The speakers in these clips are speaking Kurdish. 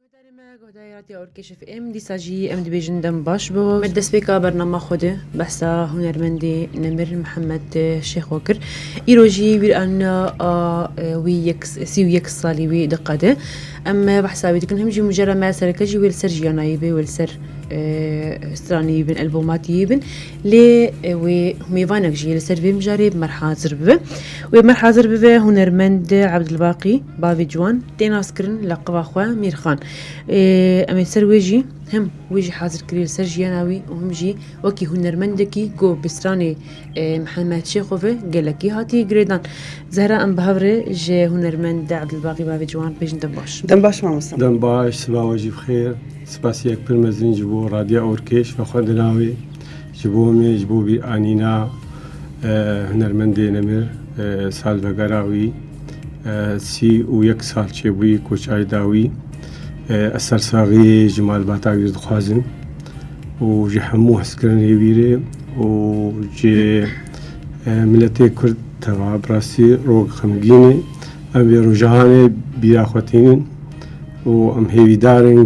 Guhdarê me, guhdarê Radiya Orkeşîf ê em dîsa jî em dibêjin dem baş bo. Me destpêka bernama xwe de behsa hunermendê Nemir Mihemed Şêxo kir. Îro jî bîranîna a wî yek sî û yek salî wî diqede. Em behsa wî dikin him jî mujera me sereke jî wê li ser jiyanayî be wê li ser stranî bin elbomatî bin lê wê mêvanek jî li ser vê mijarê bi mer hazir bibe. Wê mer hazir bibe hunermend Ebdilbaqî bavê ciwan Tê naskirin leqiba xwe Mîrxan. Em ê ser wê jî him wê jî hazir kirî li ser jiyana wî û him jî wekî hunermendekî ku bi stranê Mihemed Şêxovê gelekî hatiye girêdan. Zehra em bi hev re ji hunermend Ebdulbaxî bavê ciwan bêjin dem baş. Dem baş mamosta. Dem baş, siva we jî bi xêr. Spasiyek pir mezin ji bo Radya Orkêş ve xwendina wê. Ji bo me, ji bo bîranîna hunermendê nemir salvegera wî. Sî û yek sal çêbûyî ku çayê dawî ez sersaxiyê ji malbata wî dixwazim û ji hemû hezkirinê wî rê û ji miletê Kurd teva bi rastî rok xemgîn e. Em vê rojanê bîra xwe tînin û em hêvîdar in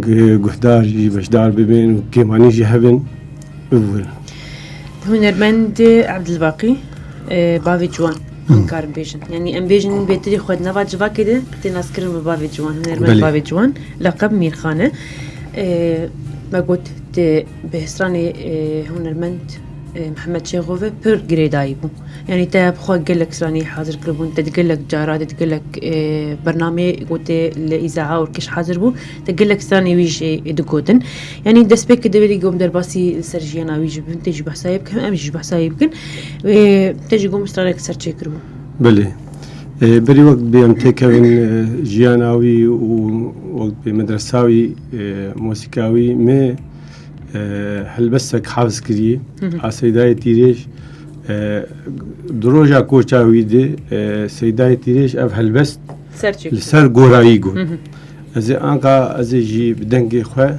guhdar jî beşdar bibin û kêmanî jî hebin bibûrin. Hunermend Abdulbaqî bavê ciwan. Nikarin bêjin. Yanî em bêjin bêtirî xwe di nava civakê de tê naskirin bi bavê ciwan, hunermend bavê ciwan, leqeb Mîrxan e. Me got di bihêstranê hunermend Mihemed Çêxo ve pir girêdayî bû. Yanî te bi xwe gelek stranî hazir kiribûn, te di gelek cara, te di gelek bernameyê gotê li îzaha û kiş hazir bû. Di gelek stranê wî jî digotin. Yanî destpêkê divê dî gom derbasî li ser jiyana wî ji bin tê jî behsa yê bikim em jî ji behsa yê bikin. Wê te jî gom stranek ser çêkiribû. Belê. Berî wek dibê em têkevin jiyana wî û wek dibê medresa wî mosîka wî me helbestek hafz kirî a Seydayê Tîrêj di roja koça wî de Seydayê Tîrêj ev helbest Li ser gorayî got. Ez ê anka ez ê jî bi dengê xwe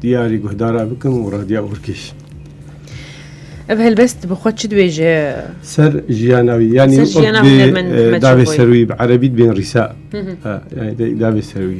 diyarî guhdara bikim û radiya Urkêş. Ev helbest bi xwe çi dibêje? Ser jiyana wî yanî davê serwî bi erebî dibên rîsa. Davê serwî.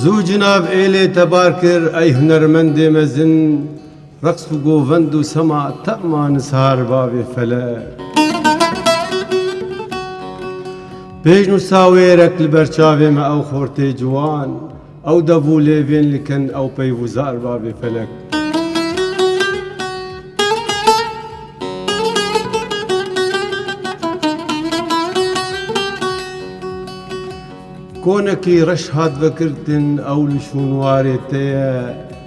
Zû cinav êlê tebar kir ey hunermendê mezin reqs û govend û sema tema nizhar bavê felek. Pêş nûsa wê rek li ber çavê me ew xortê ciwan Ew dev û lêvên li kin ew peyv û zar bavê felek. Konekî reş hat vekirtin ew li şûnwarê te ye.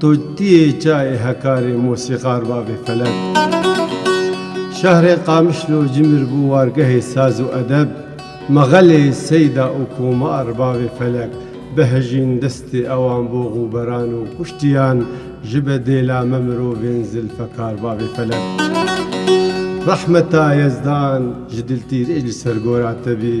To tiyê çayê Hekarê Mosîqar Bavê Felek Şehrê Qamişlo Cimir bû wargehê saz û edeb Mexelê Seyda û Komar Bavê Felek Behijîn destê ewan bo Xûberan û kuştiyan Ji be dêla me mirovên Zilfekar Bavê Felek Rehmeta Yezdan ji Diltîrê ji ser gora te bî.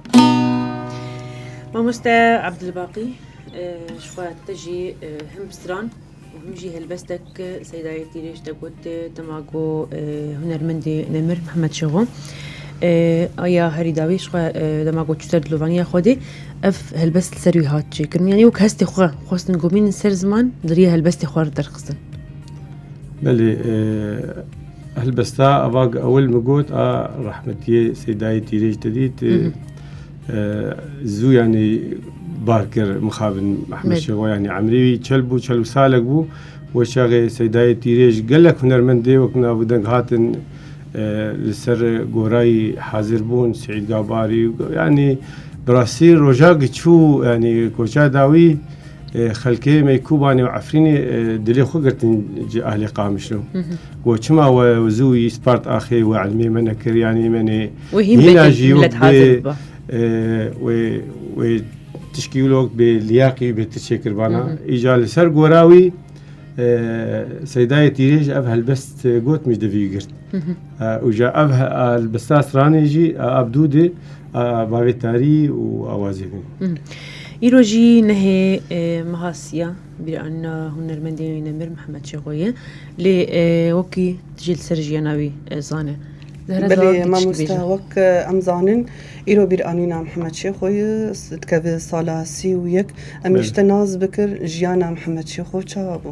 Mamoste Abdulbaqî ji xwe te jî him stran û him jî helbestek Seydayê Tîrê ji te got dema ku hunermendê Nemir Mehmed Şixo aya herî dawî ji xwe dema ku çû ser dilovaniya Xwedê ev helbest li ser wî hat çêkirin yanî wek hestê xwe xwestin gomînin ser ziman di riya helbestê xwe re derxistin. Belê Helbesta ava ku ewil min got a rehmetiyê Sêdayê Tîrêj te dît zû yanî bar kir mixabin Mehmed Şewa yanî emrî wî çel bû çel û salek bû we çaxê Sêdayê Tîrêj gelek hunermendê wek nav û deng hatin li ser gorayî hazir bûn Seîd Gabarî yanî bi rastî rojak çû yanî koça dawî Xelkê me Kûbanê û Efrînê dilê xwe girtin ji ehlê Qamişlo. We çima we zû yî spart axê we elmê me nekir yanî me nê hîna jî wê wê tişkî lok bê liyaqî bê ti çêkirbana. Îca li ser gora wî seydayê tîrê ji ev helbest got min divî girt. Û ja ev helbesta stranê jî Abdûdê Bavê tarî û awazê wî. Îro jî nehê meha siya bîranîna hunermendê wî Nemir Mihemed Şêxo ye. Lê wekî tu jî li ser jiyana wî zane. Belê mamosta wek em zanin îro bîranîna Mihemed Şêxo ye dikeve sala sî û yek. Em jî te nas bikir jiyana Mihemed Şêxo çawa bû?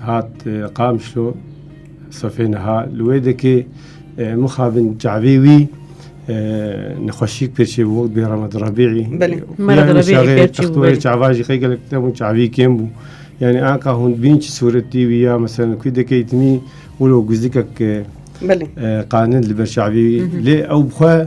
Hat Qamşlo sefê niha li wê dikê mixabin çavê wî nexweşîk pêçê bû wek bê Remed Rebîî Rebîî çava jî xê gelek te bû çavî kêm bû. Yani anka hûn bîn çi sûretî wî ya mesela kû dikê itimî wilo guzikek qanin li ber çavî wî lê ew xwe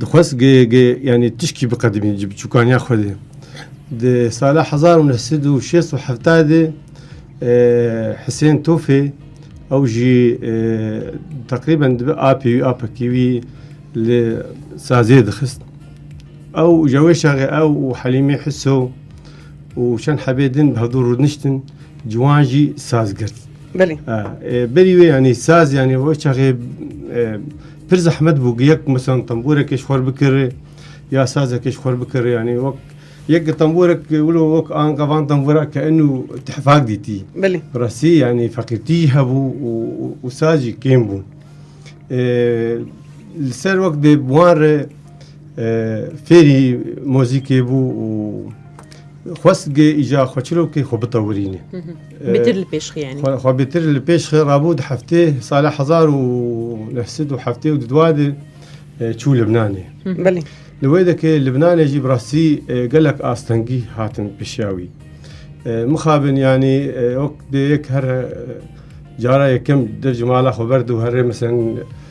dixwest yanî tişkî biqedimî ji biçûkaniya xwe dê di sala hezar û neh sed û şêst û hefta dê Hisên Tofê ew jî teqrîben dibi apê wî apekî wî li sazê dixist ew ji wê şerê ew û helîmê hiso û çend hebê din bi hevdû rûniştin ciwan jî saz girt. Belê. Berî wê yanî saz yanî o çaxê pir zehmet bû yek misan temboreke ji xwe bikirê ya sazeke ji xwe bikirê yanî wek yek temborek wilo wek an gavan tembora ke enû tehfak dîtî. Belê. Restî yanî feqîrtî hebû û sazî kêm bû. Li ser wek dê wan re Fêrî mozîkê bû û xwestgê îca xwe çirokê xwe bitewirîne. Bêtir li pêş xwe yanî. Xwe bêtir li pêş xwe rabû di heftê sala hezar û neh sed û heftê û di dua de çû Libnanê. Belê. Li wê dekê Libnanê jî bi rastî gelek astengî hatin pişiya wî. Mixabin yanî wek dê yek her cara yekem derc mala xwe berd û herê misin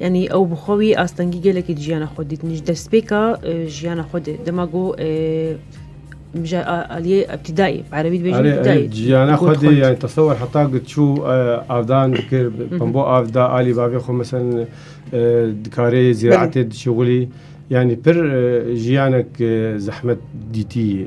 Yanî ew bi xwe wî astengî gelekê di jiyana xwe dît. Min ji destpêka jiyana xwe dê dema ku min ji aliyê ebtîdayê bi erebî dibêjin ebtîdayê. Jiyana xwe dê yani tesewer heta ku çû avdan dikir pembo av da alî bavê xwe mesen dikarê zîraetê dişixulî yanî pir jiyanek zehmet dîtî yê.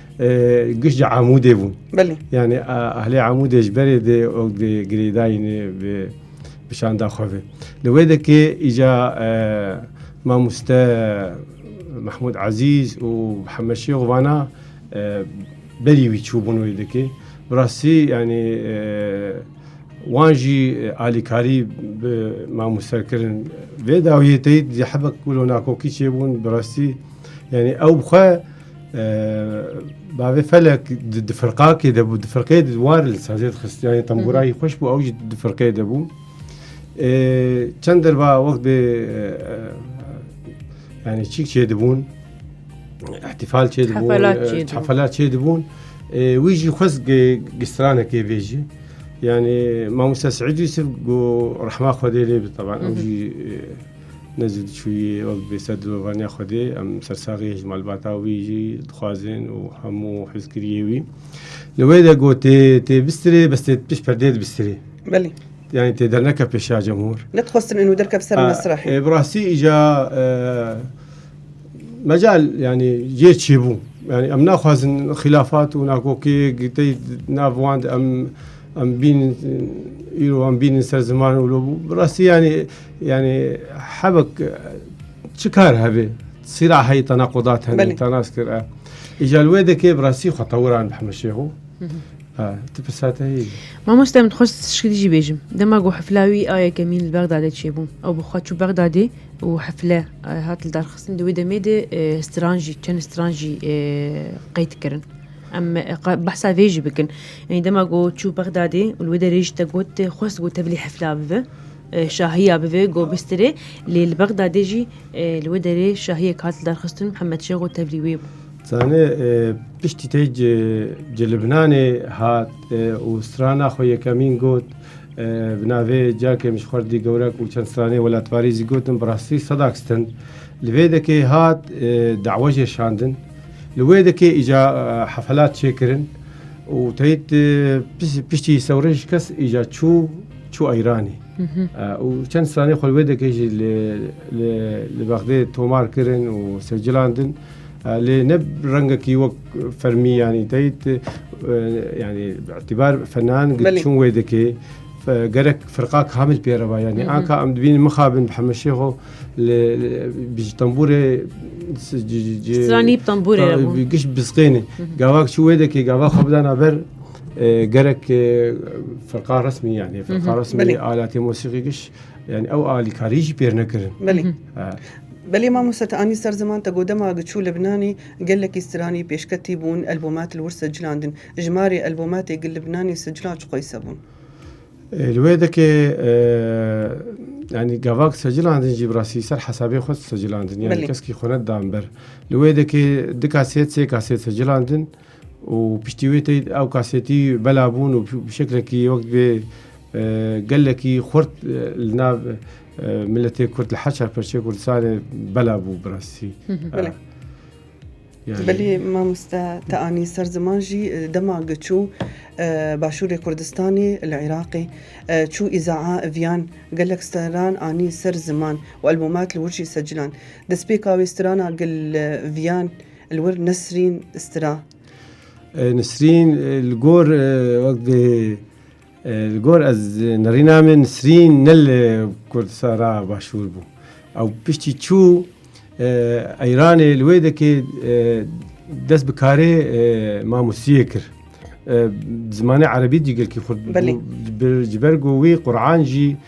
Giştî Amûdê bûn. Belê. Yani ehlê Amûdê ji berê dê ew dê girêdayînê bi bi şanda xwe ve. Li wê de ki îca mamoste Mahmûd Ezîz û Hemed Şêx vana berî wî çûbûn wê de ki. Bi rastî yani wan jî alîkarî bi mamoster kirin. Vê dawiyê teyî hebek wilo nakokî çêbûn bi rastî yani ew bi xwe Bavê felek di firqakê de bû di firqê di war li sazê dixistiyanê temburayî xweş bû ew jî di firqê de bû çend derva wek bê yani çîk çê dibûn ihtifal çê dibûn hefelat çê dibûn wî jî xwez gistranekê vê jî yani mamosta Sîd Yusuf got rehma xwedê lê bi teban ew jî Nezî diçûyî wek bi vê ser dirovaniya Xwedê em sersaxî yê ji malbata wî jî dixwazên û hemû hêzkiriyê wî. Li wê de got tê tê bistirê bes tê pişt perdeyê dibistirê. Belê. Yanî tê derneke pêşiya cemhûr. Nedixwestin enû derkeve ser mesrehê. Ê bi rastî îja mecal yanî yê çêbû. Yanî em naxwazin xîlafat û nakokiyek tê nav wan de em em bînin îro em bînin ser ziman û bi rastî yanî Yanî hevek çi kar hevê sîra heyî tana qodat hene tanas kir e. Îja li wê dekê bi rastî xwe tewiran bi heme şêx û tu pisate heyî. Mamoste min xwest tişkî jî bêjim. Dema ku hefla wî a yekemîn li Bexdadê çêbû ew bi xwe çû Bexdadê û hefle hat li darxistin di wê demê de stran jî çend stran jî qeyd kirin. Em behsa vê jî bikin. Yanî dema ku çû Bexdadê û li wê derê jî te got xwest ku te bilî hefla bibe. Şahiya bi vê go bistirê lê li Bexdadê jî li wê derê şahiyek hat lidarxistin û Mihemed Şêxo tevlî wê bû. Zanê piştî tê ji Libnanê hat û strana xwe yekemîn got. Bi navê cakê min ji xwerdî gewrek û çend stranê welatbarî jî gotin bi rastî sedak stin. Li vê dekê hat dawe jê şandin. Li wê dekê îca hefelat çêkirin û teyîd piştî sewrê ji kes îca çû. çû Îranê û çend stranê xwe wê dekê jî li bexdê tomar kirin û secilandin lê ne rengekî wek fermî yanî teyit yanî îtibar fenan çûn wê dikê gerek firqa kamil pê reva yanî anka em dibînin mixabin bi hemeşêxo li bi ji tembûrê stranî tembûrê giş bisqêne gavak çû wê dekê gavak xwe bidana ber Gerek firqa resmî yani firqa resmî Belê. aletê musîqî giş yani ew alîkarî jî pêr nekirin. Belê. Ha. Belê mamoste te anî ser ziman te got dema giçû Libnanî gelekî stranî pêşketî bûn elbomat li wir sicilandin. Ji marê elbomatê gi Libnanî sicilan çi qoyse bûn? E, Li wê dekê e, yani gavak secilandin jî bi rastî ser hesabê xwe secilandin yani Belê. keskî xwe nedan ber. Li wê dekê di kasêt sê kasêt secilandin û piştî wê tê ew kasetî bela bûn û bi şeklekî wek divê gelekî xurt li nav miletê Kurd li her çar perçeyê Kurdistanê bela bû bi rastî. Belê mamoste te anî ser ziman jî dema giçû başûrê Kurdistanê li Iraqê çû îzaa viyan gelek steran anî ser ziman û elbomat li wir jî secilan. Destpêka wê strana gil viyan Li wir Nesrîn Stira. Nisrîn li gor wek dê li gor ez nirîna min Nisrîn ne li Kurdistana başûr bû. Ew piştî çû Eyranê li wê dekê dest bi karê mamosiyê kir. Zimanê erebî jî gelkî xurt ji ber ku wî Quran jî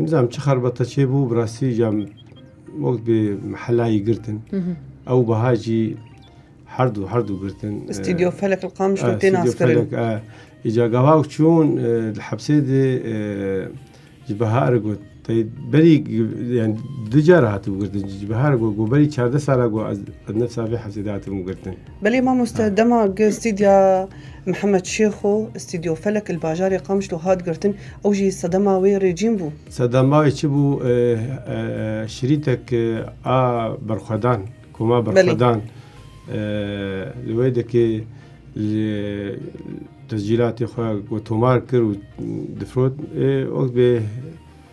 Nizam çi xerbata çê bû bi rastî ca wek bi mehelayî girtin. Ew biha jî herdû herdû girtin. Stîdyo felek li qamiş û tê naskirin. Îca gava ew çûn li hepsê de ji biha re got berî du car hatibû girtin. Ji biha re got berî çardeh sala got ez nifsa vê hepsê de hatibûm girtin. Belê mamoste dema gi stîdya Mihemed Şêxo, Stîdyo Felek li bajarê Qamişlo hat girtin ew jî sedema wê rêcîn bû. Sedema wê çi bû? Şirîtek a berxwedan, koma berxwedan li wê dikê li tescîlatê xwe got tomar kir û difrot. Wexbê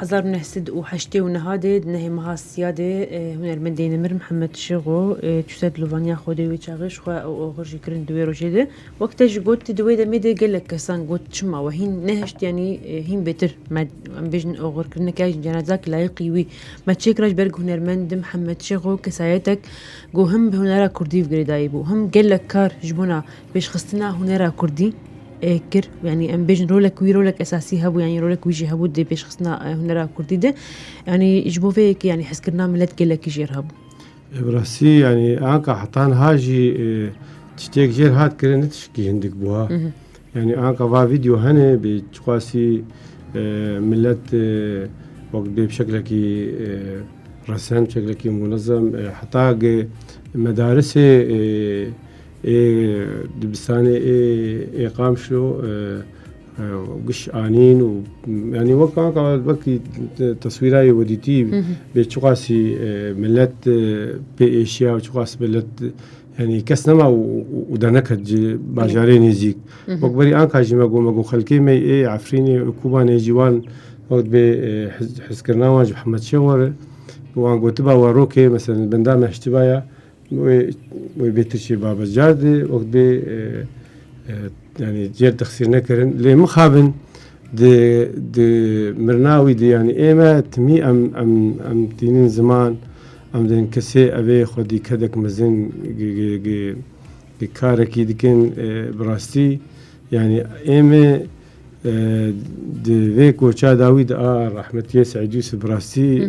Hezar û neh sed û heştê û niha de di nehê meha siya de hunermendê nemir Mihemed Şêxo çû ser dilovaniya xwe de wê çaxê ji xwe û oxir jî kirin di wê rojê de wek te jî got di wê demê de gelek kesan got çima we hîn nehişt yanî hîn bêtir me em bêjin oxir kirineke ji cenazak layiqî wî me çê kira ji ber ku hunermend di Mihemed Şêxo kesayetek ku him bi hunera kurdî girêdayî bû him gelek kar ji bona Pêşxistina hunera kurdî kir yanî em bêjin rolek wî rolek esasî hebû yanî rolek wî jî hebû dê pêşxistina hunera kurdî de yanî ji bo vê yekê yanî hezkirina milet gelekî jêr hebû. Ebrasî yanî anka heta niha jî tiştêk jêr hat kirin ne tişkî hindik bû ha. Yanî anka va vîdeo hene bê çiqasî milet wek bê bi şeklekî resen bi şeklekî munezem heta ge medarisê Ê dibistanê ê ê Qamşlo giş anîn û yanî wek anka wekî teswîra yê wedîtî bê çiqasî milet pê êşiya û çiqas milet yanî kes nema û derneket ji bajarê nêzîk. Wek berî anka jî me got me got xelkê me ê Efrînê û Kobanê jî wan wek dibê hizkirina wan ji Hemed Şêx were û wan gotiba werokê mesela benda me hiştibaya Wê wê bê Tirkiyê babet cardê wek bê yani cêr dixsir nekirin lê mixabin di di mirnawî di yani ême timî em em em tînin ziman em din kesê evê xwedî kedek mezin karekî dikin bi rastî yani ême di vê koça dawî di a rahmetiyê Seîd Yûsif bi rastî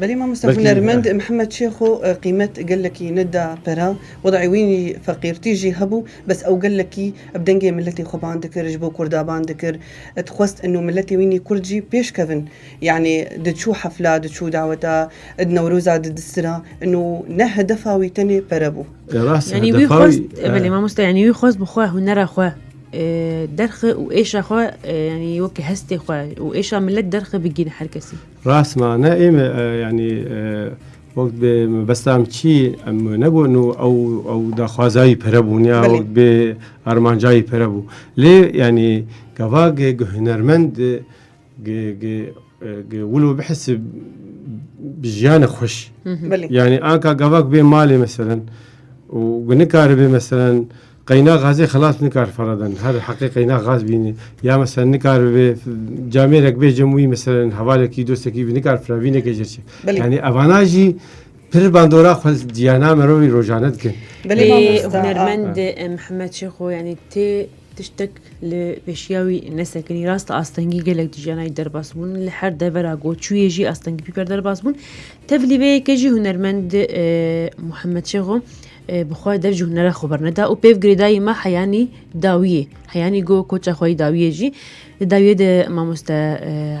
Belê mamosta hunermend Mihemed Şêxo qîmet gelekî neda pera, wedayê wî feqîrtî jî hebû, bes ew gelekî bi dengê miletê xwe bang dikir, ji bo kurda bang dikir, dixwest ino miletê wî nî kurd jî pêş kevin. Yanî diçû hefla, diçû daweta, di newroza di distira, ino ne hedefa wî tenê pere bû. Yanî wî xwest, belê mamosta, yanî wî xwest bi xwe hunera xwe derxi û êşa xwe yanî weke hestê xwe û êşa milet derxi bigîne her kesî. Rast ma ne ê me yanî wek bi mebesta em çî em negonû ew ew daxwaza wî pere bûn ya wek bi armanca wî pere bû. Lê yanî gava gi gi hunermend gi gi gi wilo bihisi bi jiyane xweş. Yanî anka gava gi bê malê meselen û gi nikaribe meselen Qeyna gazê xilas nikar faradan. Her heqê qeyna gaz bîne. Ya mesela nikar bibê camêrek bê cem wî mesela hevalekî dostekî bî nikar firavînekê jê çi. Belê. Yanî evana jî pir bandora xwe ciyana merovî rojane dikin. Belê Ê mamosta. hunermend e, Mihemed Şêxo yanî tê tiştek li pêşiya wî nesekinî. Rast e astengî gelek di jiyana wî derbas bûn. Li her devera ku çûyê jî astengî pîper derbas bûn. Tevlî vê yekê jî hunermend e, Mihemed Şêxo Bi xwe derc û hunera xwe berneda û pêv girêdayî me heyanî dawiyê, heyanî go koça xwe yî dawiyê jî. Di dawiyê de mamoste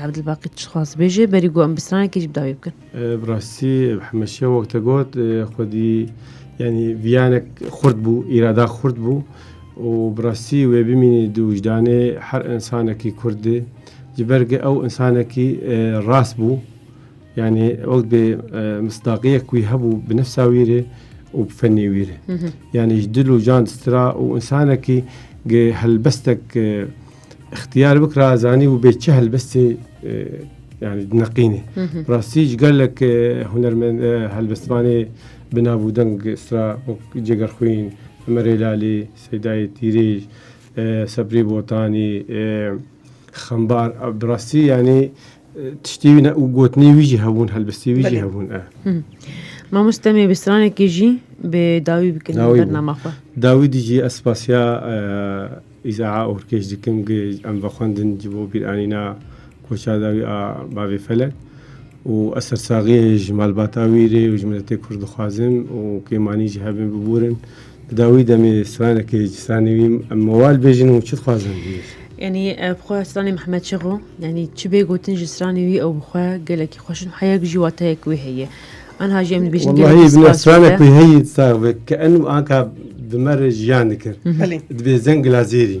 Evdilbaqî tiştxwaz dibêje, berî go em bi stranekê jî bi dawiyê bikin. Bi rastî Hemeşiya wek te got xwedî yanî viyanek xurt bû, îrada xurt bû û bi rastî wê bimînî di wijdanê her însanekî Kurdî ji ber ke ew însanekî rast bû. Yani wek dê misdaqiyek wî hebû bi nefsa wî rê û bi fenê wî rê. Yani ji dil û can distira û insanekî gi helbestek ixtiyar bikira zanî û bê çi helbestê yani neqînê. Rastî ji gelek hunermend helbestvanê bi nav û deng istra wek Ceger Xwîn, Emerê Lalî, Seydayê Tîrêj, Sebrî Botanî, Xembar bi rastî yanî Tiştî wî ne û gotinê wî jî hebûn helbistî wî jî hebûn e. Mamost demê bi stranekê jî bi dawî bikin bernama xwe. Dawî dî jî ez spasiya îzaa orkêj dikim gi em vexwendin ji bo bîranîna koça dawî a bavê felek û ez sersaxiyê ji malbata wî rê û ji miletê Kurd dixwazim û kêmanî jî hebin biburin Da wî demê stranekê ji stranê wî me wal bêjin û çi dixwazin hêj? Yanî bi xwe stranê Mehmet Şexo yanî çi bê gotin ji stranê wî ew bi xwe gelekî xweş in heyek jî wateyek wê heye. Anha jî em dibêjin Wellahî bi ne stranek wî heyî sax be ke enû anka bi me re jiyan dikir. Dibê zengila zêrî.